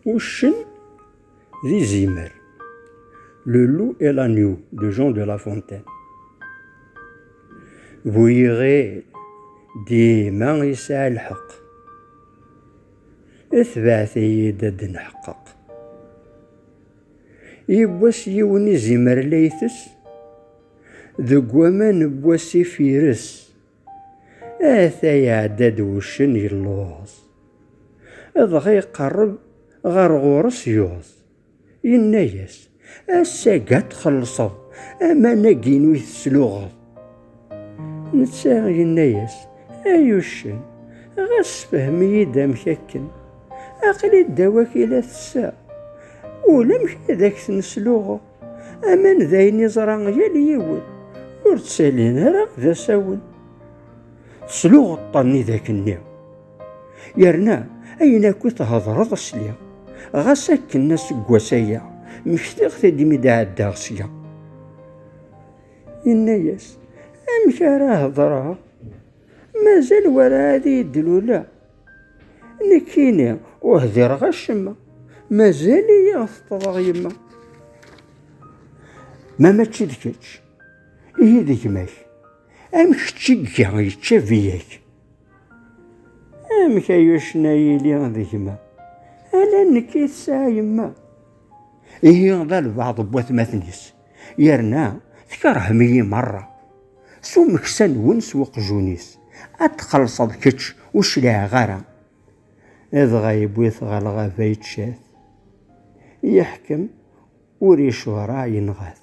Uccen d izimer. Le loup et l'agneau de Jean de La Fontaine. Bu yiɣil dima yesɛa lḥeqq. Tebɛet-iyi-d ad d-neḥqeq. Yiwwas yiwen izimer la itess deg waman n wasif ires. ata iɛedda-d wuccen yelluẓ dɣa iqerreb ɣer ɣur-s yuẓ yenna-yas ass-agi ad txellṣeḍ aman-agi-inu i tesluɣeḍ netta yenna-yas ay uccen ɣas sefhem-iyi-d amek akken aql-i ddaw-ak i la tesseɣ ulamek ad ak-ten-sluɣeɣ Aman d ayen iẓra yal yiwen, ur ttalin ara d asawen. Tesluɣeṭṭen i dak-nni. Yerna ayen akk i thedreḍ sliɣ, ɣas akken aseggas aya mmektiɣ-t-id imi d-ɛeddaɣ sya. Yenna-yas, Amek ara hedreɣ? Mazal werɛad iyi-d-lula. Nekkini ur hdireɣ acemma. Mazal-iyi teṭṭḍeɣ yemma. Ma mačči d kečč, ihi d gma-k. Am kečč i iga yečča biyak. Amek ay ucna yili d gma? Ala nekk i tesɛa yemma. Ihi d albaɛḍ n watmaten-is. yerna tkerhem-iyi merra s umeksa-nwen s uqjun-is ad txellṣeḍ kečč ur cliɛeɣ ara dɣa yewwi-t ɣer lɣaba yečča-t yeḥkem ur yecɣer yenɣa-t